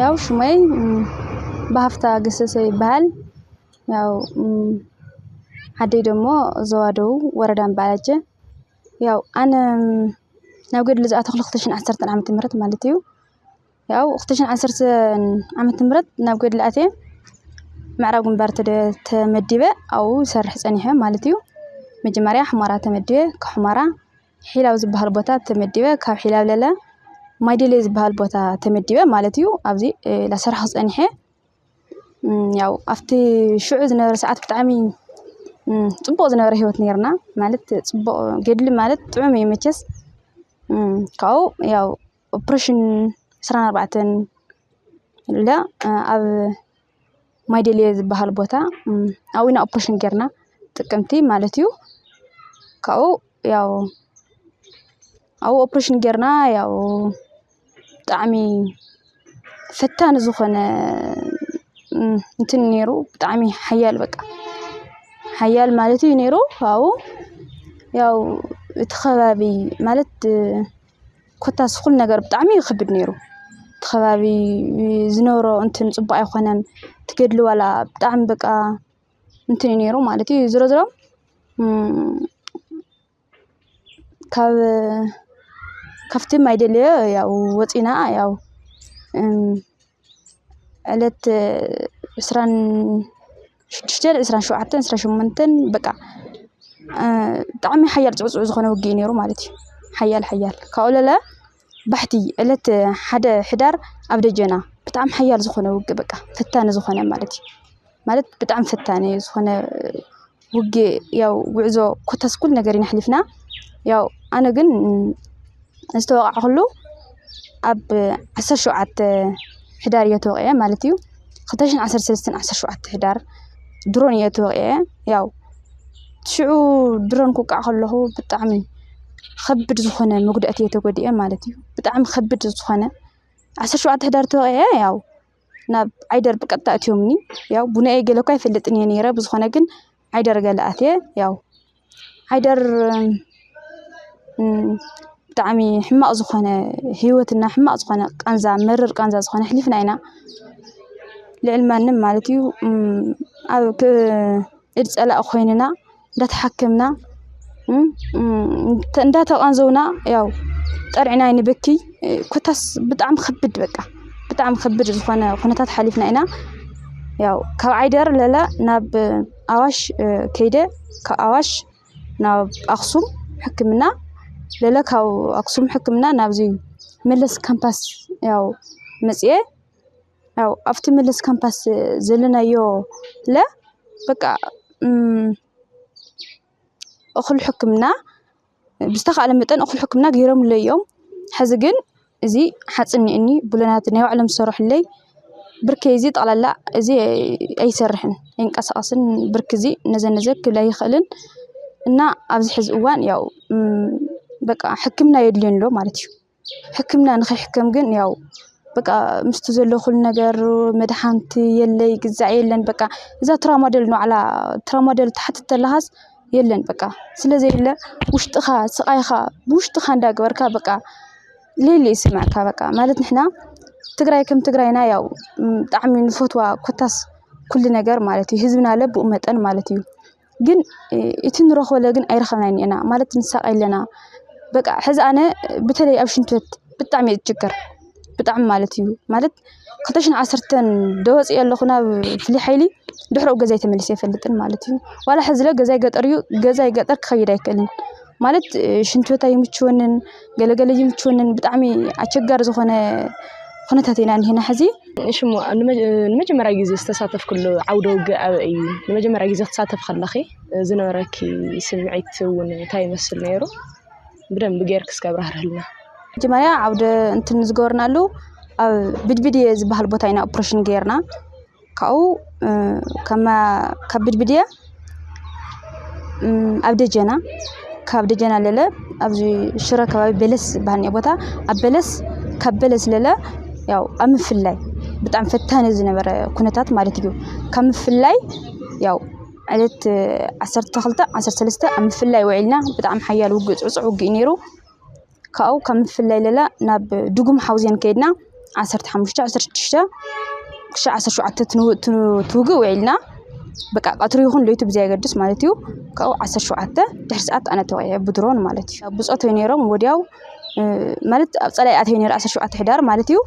ያው ሽመይ ብሃፍታ ገሰሰ ይበሃል። ያው ዓደይ ደሞ ዞባ ደቡብ ወረዳ እምባላጀ። ያው ኣነ ናብ ገድሊ ዝኣተኹ ክልተ ሽሕን ዓሰርተን ዓመተ ምህረት ማለት እዩ። ያው እኽትሽን ዓሰርተ ዓመት ምረት ናብ ገድሊ ኣትየ ምዕራብ ግንባር ተመዲበ ኣብኡ ሰርሕ ፀኒሐ ማለት እዩ መጀመርያ ሕማራ ተመዲበ ካብ ሕማራ ሒላብ ዝበሃል ቦታ ተመዲበ ካብ ሒላብ ለለ ማይደሌ ዝበሃል ቦታ ተመዲበ ማለት እዩ ኣብዚ ላሰርሕ ክፀኒሐ ያው ኣብቲ ሽዑ ዝነበረ ሰዓት ብጣዕሚ ፅቡቕ ዝነበረ ህይወት ነርና ማለት ፅቡቕ ገድሊ ማለት ጥዑም እዩ መቸስ ካብኡ ያው ኦፕሬሽን ዕስራን ኣርባዕተን ኢላ ኣብ ማይደሊየ ዝበሃል ቦታ ኣብኡ ኢና ኦፕሬሽን ጌርና ጥቅምቲ ማለት እዩ። ካብኡ ያው ኣብኡ ኦፕሬሽን ጌርና ያው ብጣዕሚ ፈታኒ ዝኾነ እንትን ነይሩ ብጣዕሚ ሓያል በቃ ሓያል ማለት እዩ ነይሩ። ካብኡ ያው እቲ ከባቢ ማለት ኮታስ ኩሉ ነገር ብጣዕሚ እዩ ክብድ ነይሩ። እቲ ከባቢ ዝነበሮ እንትን ፅቡቅ ኣይኾነን። እቲ ገድሊ ዋላ ብጣዕሚ በቃ እንትን እዩ ነይሩ ማለት እዩ። ዝሮ ዝሮ ካብ ካብቲ ማይደለዮ ያው ወፂእና ያው ዕለት ዕስራን ሽዱሽተን ዕስራን ሸውዓተን ዕስራን ሸሞንተን በቃ ብጣዕሚ ሓያል ፅዕፁዕ ዝኾነ ውግእ እዩ ነይሩ ማለት እዩ። ሓያል ሓያል ካብኡ ለለ ባሕቲ ዕለት ሓደ ሕዳር ኣብ ደጀና ብጣዕሚ ሓያል ዝኾነ ውግእ በቃ ፈታኒ ዝኾነ ማለት እዩ። ማለት ብጣዕሚ ፈታኒ ዝኾነ ውግእ ያው ጉዕዞ ኮታስ ኩሉ ነገር ኢና ኣሕሊፍና። ያው ኣነ ግን ዝተወቓዕኹሉ ኣብ ዓሰርተ ሸውዓተ ሕዳር እየ ተወቒዐ ማለት እዩ። ክልተ ሽሕን ዓሰርተ ሰለስተን ዓሰርተ ሸውዓተ ሕዳር ድሮን እየ ተወቒዐ። ያው ሽዑ ድሮን ክውቃዕ ከለኹ ብጣዕሚ ኸቢድ ዝኾነ መጉዳእቲ እየ ተጎዲኤ ማለት እዩ። ብጣዕሚ ኸቢድ ዝኾነ ዓሰርተ ሸውዓተ ሕዳር ተወቒዐ ያው። ናብ ዓይደር ብቀጥታ ኣእትዮምኒ። ያው ቡናኤ ገለ እኳ ኣይፈልጥን እየ ነይረ ብዝኾነ ግን ዓይደር ገለ ኣትየ ያው ዓይደር ብጣዕሚ ሕማቕ ዝኾነ ህይወትና ሕማቕ ዝኾነ ቃንዛ መርር ቃንዛ ዝኾነ ኣሕሊፍና ኢና። ልዕሊ ማንም ማለት እዩ ኣብ ኢድ ፀላኢ ኮይንና። እንዳተሓከምና እንዳተቐንዘውና ያው ጠሪዕና ኣይንበክይ ኮታስ ብጣዕሚ ከብድ በቃ ብጣዕሚ ከብድ ዝኾነ ኩነታት ሓሊፍና ኢና። ያው ካብ ዓይደር ለለ ናብ ኣዋሽ ከይደ ካብ ኣዋሽ ናብ ኣኽሱም ሕክምና ለለ ካብ ኣኽሱም ሕክምና ናብዚ መለስ ካምፓስ ያው መፂኤ ያው ኣብቲ ምልስ ካምፓስ ዘለናዮ ለ በቃ እኹል ሕክምና ብዝተኻእለ መጠን እኹል ሕክምና ገይሮምለይ እዮም። ሕዚ ግን እዚ ሓፂን እኒአኒ ብሎናት ናይ ባዕሎም ዝሰርሑለይ ብርከይ እዚ ጠቕላላ እዚ ኣይሰርሕን ኣይንቀሳቐስን ብርኪ እዚ ነዘ ነዘ ክብል ኣይኽእልን። እና ኣብዚ ሕዚ እዋን ያው በቃ ሕክምና የድልየኒ ኣሎ ማለት እዩ። ሕክምና ንኽሕከም ግን ያው በቃ ምስቲ ዘሎ ኩሉ ነገር መድሓንቲ የለ ይግዛእ የለን በቃ እዛ ትራማዶል ንባዕላ ትራማዶል ትሓትት ተለኻስ የለን በቃ ስለዘየለ ውሽጥኻ ስቓይኻ ብውሽጥኻ እንዳገበርካ በቃ ሌሊ ይስመዐካ በቃ ማለት ንሕና ትግራይ ከም ትግራይና ያው ብጣዕሚ ንፈትዋ ኮታስ ኩሉ ነገር ማለት እዩ ህዝብና ለብኡ መጠን ማለት እዩ። ግን እቲ ንረኽቦ ግን ኣይረኸብናን ኢና ማለት ንሳቀ ኣለና። በቃ ሕዚ ኣነ በተለይ ኣብ ሽንቲ ቤት ብጣዕሚ እየ ዝጭገር ብጣዕሚ ማለት እዩ ማለት ክልተ ሽሕን ዓሰርተን ዶወፅእ ኣለኹ ናብ ፍሉይ ሓይሊ ድሕሪ ኡ ገዛይ ተመሊሰ ኣይፈልጥን ማለት እዩ። ዋላ ሕዚ ለ ገዛይ ገጠር እዩ ገዛይ ገጠር ክኸይድ ኣይክእልን ማለት ሽንቲ ቤት ኣይምችወንን። ገለ ገለ ይምችወንን ብጣዕሚ ኣቸጋሪ ዝኾነ ኩነታት ኢና እኒሀና ሕዚ። እሺ እሞ ንመጀመርያ ግዜ ዝተሳተፍክሉ ዓውደ ውግእ ኣበይ እዩ? ንመጀመርያ ግዜ ክትሳተፍ ከለኺ ዝነበረኪ ስምዒት እውን እንታይ ይመስል ነይሩ? ብደንቢ ጌርኪ እስኪ ኣብራህርህልና። መጀመርያ ዓውደ እንትን ዝገበርናሉ ኣብ ብድብድየ ዝበሃል ቦታ ኢና ኦፕሬሽን ገይርና። ካብኡ ካብ ብድብድያ ኣብ ደጀና ካብ ደጀና ለለ ኣብዚ ሽረ ከባቢ በለስ ዝበሃል እኒኦ ቦታ ኣብ በለስ ካብ በለስ ለለ ያው ኣብ ምፍላይ ብጣዕሚ ፈታኒ ዝነበረ ኩነታት ማለት እዩ። ካብ ምፍላይ ያው ዕለት ዓሰርተ ክልተ ዓሰርተ ሰለስተ ኣብ ምፍላይ ውዒልና ብጣዕሚ ሓያል ውግእ ፅዕፁዕ ውግእ እዩ ነይሩ። ካብኡ ካብ ምፍልላይ ለለ ናብ ድጉም ሓውዜን ከይድና ዓሰርተ ሓሙሽተ፣ ዓሰርተ ሽዱሽተ ክሻዕ ዓሰርተ ሸውዓተ እቲ ውግእ ውዒልና በቃ ቀትሪ ይኹን ለይቲ ብዘየገድስ ማለት እዩ ካብኡ ዓሰርተ ሸውዓተ ድሕሪ ሰዓት ኣነ ተወቒዐ ብድሮን ማለት እዩ። ብፆት እዮም ነይሮም ወዲያው ማለት ኣብ ፀላኢ ኣትየ ነይረ ዓሰርተ ሸውዓተ ሕዳር ማለት እዩ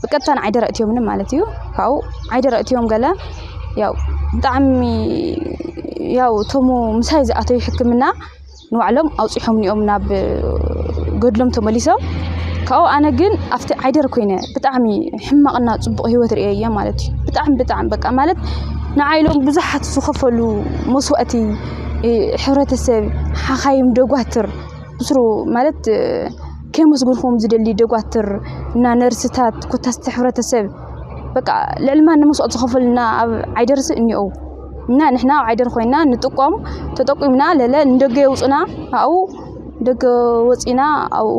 ብቀጥታ ንዓይደረ እትዮምኒ ማለት እዩ ካብኡ ዓይደረ እትዮም ገለ ያው ብጣዕሚ ያው እቶም ምሳይ ዝኣተዩ ሕክምና ንባዕሎም ኣውጺሖምኒ'ዮም ናብ ገድሎም ተመሊሶም። ካብኡ ኣነ ግን ኣብቲ ዓይደር ኮይነ ብጣዕሚ ሕማቕና ጽቡቕ ህይወት ርእየ እየ ማለት እዩ ብጣዕሚ ብጣዕሚ በቃ ማለት ንዓይ ኢሎም ብዙሓት ዝኸፈሉ መስዋእቲ ሕብረተሰብ ሓኻይም ደጓትር ብስሩ ማለት ከየመስግንኩም ዝደሊ ደጓትር እና ነርስታት ኮታስ እቲ ሕብረተሰብ በቃ ልዕሊ ማንም መስዋእቲ ዝኸፈሉልና ኣብ ዓይደርሲ እኒኦው። እና ንሕና ኣብ ዓይደር ኮይና ንጥቆም ተጠቂምና ለለ ንደገ የውፅና ኣብኡ ደገ ወፂና ኣብኡ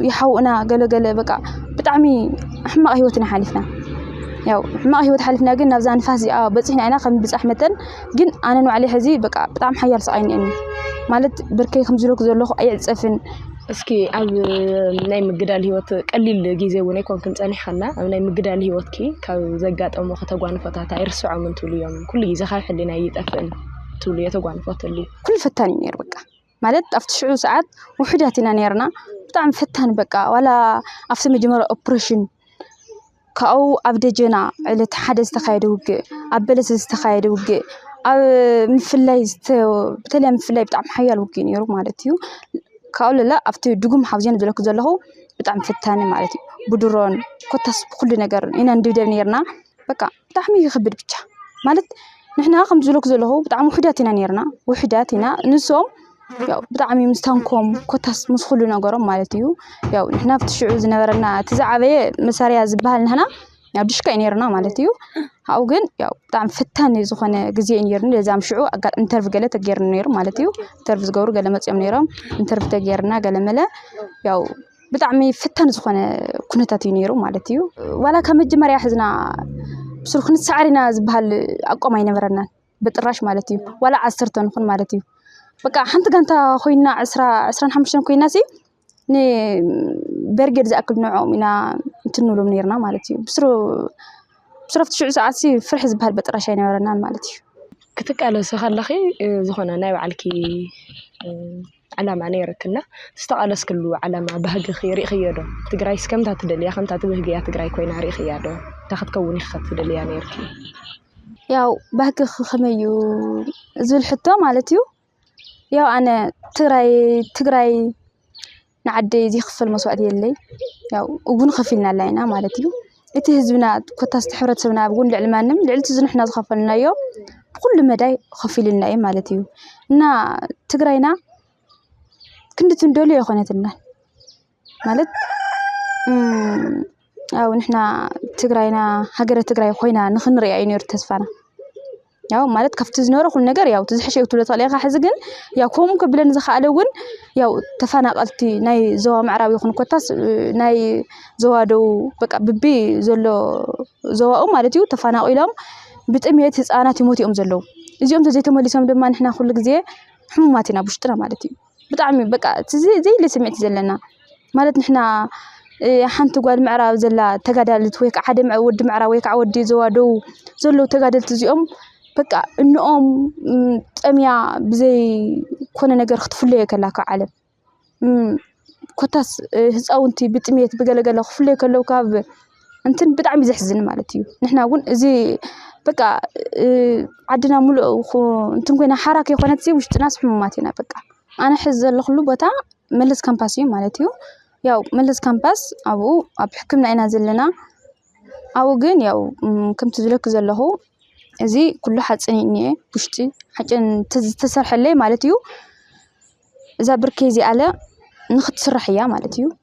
ይሓውኡና ገለገለ በቃ ብጣዕሚ ሕማቕ ሂወት ኢና ሓሊፍና ያው ሕማቕ ሂወት ሓሊፍና ግን ናብዛ ንፋስ እዚኣ በፂሕና ኢና ከም ብፃሕ መጠን ግን ኣነ ንባዕለይ ሕዚ በቃ ብጣዕሚ ሓያል ስቓይ እኒአኒ ማለት ብርከይ ከምዚ ኢለኩ ዘለኹ ኣይዕፀፍን እስኪ ኣብ ናይ ምግዳል ህይወት ቀሊል ግዜ እውን ኣይኮንክን ጸኒሕኸና ኣብ ናይ ምግዳል ህይወትኪ ካብ ዘጋጠሙኺ ተጓንፎታት ኣይርስዖም እንትብሉ እዮም ኩሉ ግዜ ካብ ሕሊና ይጠፍእን ትብሉ የተጓንፎት ኣሉ ኩሉ ፈታን እዩ ነይሩ በቃ ማለት ኣብቲ ሽዑ ሰዓት ውሑዳት ኢና ነርና ብጣዕሚ ፈታኒ በቃ ዋላ ኣብቲ መጀመርያ ኦፕሬሽን ካብኡ ኣብ ደጀና ዕለት ሓደ ዝተኻየደ ውግእ፣ ኣብ በለስ ዝተኻየደ ውግእ፣ ኣብ ምፍላይ ብተለይ ኣብ ምፍላይ ብጣዕሚ ሓያል ውግእ ነይሩ ማለት እዩ። ካብኡ ለለ ኣብቲ ድጉም ሓውዜን ዝበለኩ ዘለኹ ብጣዕሚ ፈታኒ ማለት እዩ። ብድሮን ኮታስ ብኹሉ ነገር ኢና ንድብደብ ነይርና። በቃ ብጣዕሚ ይኸብድ ብቻ ማለት ንሕና ከምቲ ዝበለኩ ዘለኹ ብጣዕሚ ውሑዳት ኢና ነይርና ውሑዳት ኢና ንሶም ያው ብጣዕሚ ምስ ታንኮም ኮታስ ምስ ኩሉ ነገሮም ማለት እዩ ያው ንሕና ኣብቲ ሽዑ ዝነበረና እቲ ዝዓበየ መሳርያ ዝበሃል ንሕና ያው ድሽካ እዩ ነይርና ማለት እዩ ኣብኡ ግን ያው ብጣዕሚ ፈታኒ ዝኾነ ግዜ እዩ ነይሩኒ ለዚ ኣብ ሽዑ ኣጋ ኢንተርቪ ገለ ተገይሩኒ ነይሩ ማለት እዩ ኢንተርቪ ዝገብሩ ገለ መፅዮም ነይሮም ኢንተርቪ ተገይርና ገለ መለ ያው ብጣዕሚ ፈታኒ ዝኾነ ኩነታት እዩ ነይሩ ማለት እዩ ዋላ ካብ መጀመርያ ሕዝና ብሱሩ ክንሰዓር ኢና ዝበሃል ኣቋም ኣይነበረናን ብጥራሽ ማለት እዩ ዋላ ዓሰርተ ንኹን ማለት እዩ በቃ ሓንቲ ጋንታ ኮይና ዕስራ ዕስራን ሓሙሽተን ኮይና ሲ ንበርጌድ ዝኣክል ንዕኦም ኢና እንትን ንብሎም ነይርና ማለት እዩ ብስሩ ብስረፍቲ ሽዑ ሰዓት ሲ ፍርሒ ዝበሃል በጥራሽ ኣይነበረናን ማለት እዩ ክትቃለሲ ከለኺ ዝኾነ ናይ ባዕልኪ ዕላማ ነይሩኪ እና ዝተቓለስክሉ ዕላማ ባህግኺ ርኢኽዮ ዶ? ትግራይስ ከምታ ትደልያ ከምታ ትብህግያ ትግራይ ኮይና ርኢኽያ ዶ? እንታይ ክትከውን ኢኺ ትደልያ ነይርኪ? ያው ባህግኺ ከመይ እዩ ዝብል ሕቶ ማለት እዩ ያው ኣነ ትግራይ ትግራይ ንዓደይ ዘይክፈል መስዋእቲ የለይ ያው እውን ከፊልና ኣላ ኢና ማለት እዩ። እቲ ህዝብና ኮታስ እቲ ሕብረተሰብና እውን ልዕሊ ማንም ልዕሊ እቲ ንሕና ዝኸፈልናዮ ብኹሉ መዳይ ከፊሉልና እዩ ማለት እዩ። እና ትግራይና ክንዲ እቲ ንደልዮ ኣይኾነትልናን። ማለት ያው ንሕና ትግራይና ሃገረ ትግራይ ኾይና ንኽንሪኣ እዩ ነይሩ ተስፋና። ያው ማለት ካብቲ ዝነበረ ኩሉ ነገር ያው እቲ ዝሐሸ እዩ ክትብሎ ትኽእል ኢኻ። ሕዚ ግን ያው ከምኡ ከብለን ዝኸኣለ እውን ያው ተፈናቐልቲ ናይ ዞባ ምዕራብ ይኹን ኮታስ ናይ ዞባ ደቡብ በቃ ብቢ ዘሎ ዞባኡ ማለት እዩ ተፈናቒሎም ብጥምየት ህፃናት ይሞቱ እዮም ዘለዉ። እዚኦም ተዘይተመሊሶም ድማ ንሕና ኩሉ ግዜ ሕሙማት ኢና ኣብ ውሽጥና ማለት እዩ። ብጣዕሚ በቃ እቲ ዘየለ ስምዒት እዩ ዘለና። ማለት ንሕና ሓንቲ ጓል ምዕራብ ዘላ ተጋዳሊት ወይ ከዓ ሓደ ወዲ ምዕራብ ወይ ከዓ ወዲ ዞባ ደቡብ ዘለዉ ተጋደልቲ እዚኦም በቃ እንኦም ጠምያ ብዘይ ኮነ ነገር ክትፍለዮ ከላ ካብ ዓለም ኮታስ ህፃውንቲ ብጥምየት ብገለ ገለ ክፍለዩ ከለዉ ካብ እንትን ብጣዕሚ ዘሕዝን ማለት እዩ። ንሕና እውን እዚ በቃ ዓድና ሙሉእ እንትን ኮይና ሓራ ከይኮነት ውሽጥናስ ሕሙማት ኢና በቃ። ኣነ ሕዚ ዘለኹሉ ቦታ መለስ ካምፓስ እዩ ማለት እዩ። ያው መለስ ካምፓስ ኣብኡ ኣብ ሕክምና ኢና ዘለና። ኣብኡ ግን ያው ከምቲ ዝብለኪ ዘለኹ እዚ ኩሉ ሓፂን እዩ ዝኒኤ ውሽጢ ሓፂን ዝተሰርሐለይ ማለት እዩ። እዛ ብርኪ እዚኣለ ንኽትስራሕ እያ ማለት እዩ።